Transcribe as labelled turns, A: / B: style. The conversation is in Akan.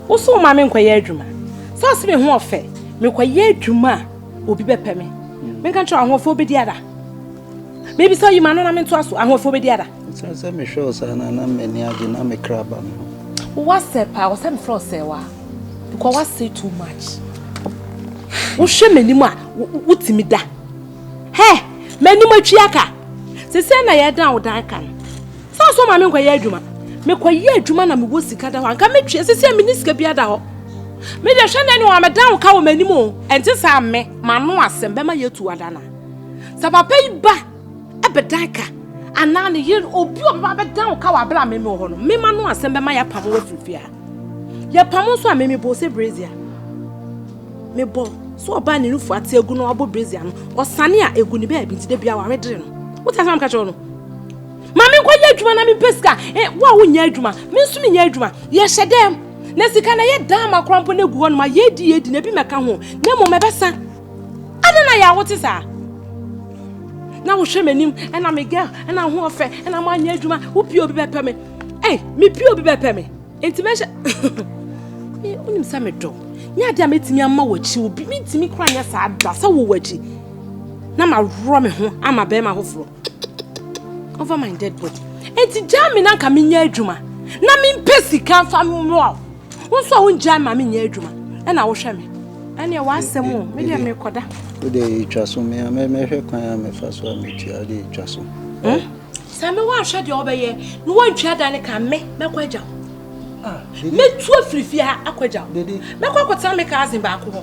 A: Wo so ma me nkɔyɛ adwuma. Sɛ ɔse me ho ɔfɛ, mekɔyɛ adwuma a obi bɛpɛ me. Menka nkyerɛ ahoɔfɛ obɛdi ada. Mebi sɛ ɔyima no na mentoa so, ahoɔfɛ obɛdi ada. Sɛ sɛ mehwɛ wo saa na na m'ani agye na me kra ba me ho. Woasɛ paa, ɔsɛ mefrɛ wo sɛ wa. Because woasɛ too much. Wohwɛ m'anim a, wotumi da. Hɛ, m'anim atwi aka. Sɛ sɛ na yɛdan wo dan ka no. Saa so ɔma me nkɔyɛ adwuma. Mekɔyɛ adwuma na mewɔ sika da hɔ a, anka metwe. Sisi a menni sika biara da hɔ. Me deɛ hwɛ na ɛne wɔn a meda wo ka wɔ m'anim o. Ɛnte saa me, m'ano asɛm bɛma yɛatu ada no a. Sɛ papa yi ba bɛdan ka anaa ne yere, obi a ɔbɛba abɛdan wo ka wɔ abere a me mewɔ hɔ no, me m'ano asɛm bɛma yɛapamo afiri fie ha. Yɛpamo nso a, me mebɔɔ sɛ brazier. Mebɔ sɛ ɔbaa ne nufu ate agu na wabɔ brazier no, ɔsane a egu ne baabi nti da biara wamedere no. Wote asɛm a meka kyerɛ wo no? Ma me nkɔyɛ adwuma na mempɛ sika. Eh, wo a wonyɛ adwuma, me nso menyɛ adwuma. Yɛhyɛ dɛm. Na sika na ɛyɛ dan ma koraa mpo na egu hɔnom a yɛredi yɛredi na ebi mmɛka ho na mmom ɛbɛsa. Adɛn na yɛ a wote saa? Na wohwɛ m'anim ɛna me girl ɛna ho ɔfɛ ɛna manyɛ adwuma wo pie obi bɛpɛ me. Eh, me pie obi bɛpɛ me. Enti mɛhyɛ me wonim sɛ medɔ. Nyɛ adeɛ a mɛtumi ama w'akyi obi mentumi koraa nyɛ saa da sɛ wowɔ akyi na maworɔ me ho ama bɛrima foforɔ. over my dead body eti gyaa me na nka menyɛ adwuma na mempɛ sika mfa mmoa wo wo nso a wongyaa ma menyɛ adwuma ɛna wohwɛ me ɛneɛ w'asɛm o medeɛ mekɔda wode ɛtwa so mea mɛhwɛ kwan a mefa so a metua wode ɛtwa so hmm? sɛ me woanhwɛ deɛ wobɛyɛ na woantwa da ne ka me mɛkɔ agya wo ah, mɛtu afirifie ha akɔ agya wo mɛkɔ akɔtena me cousin baako hɔ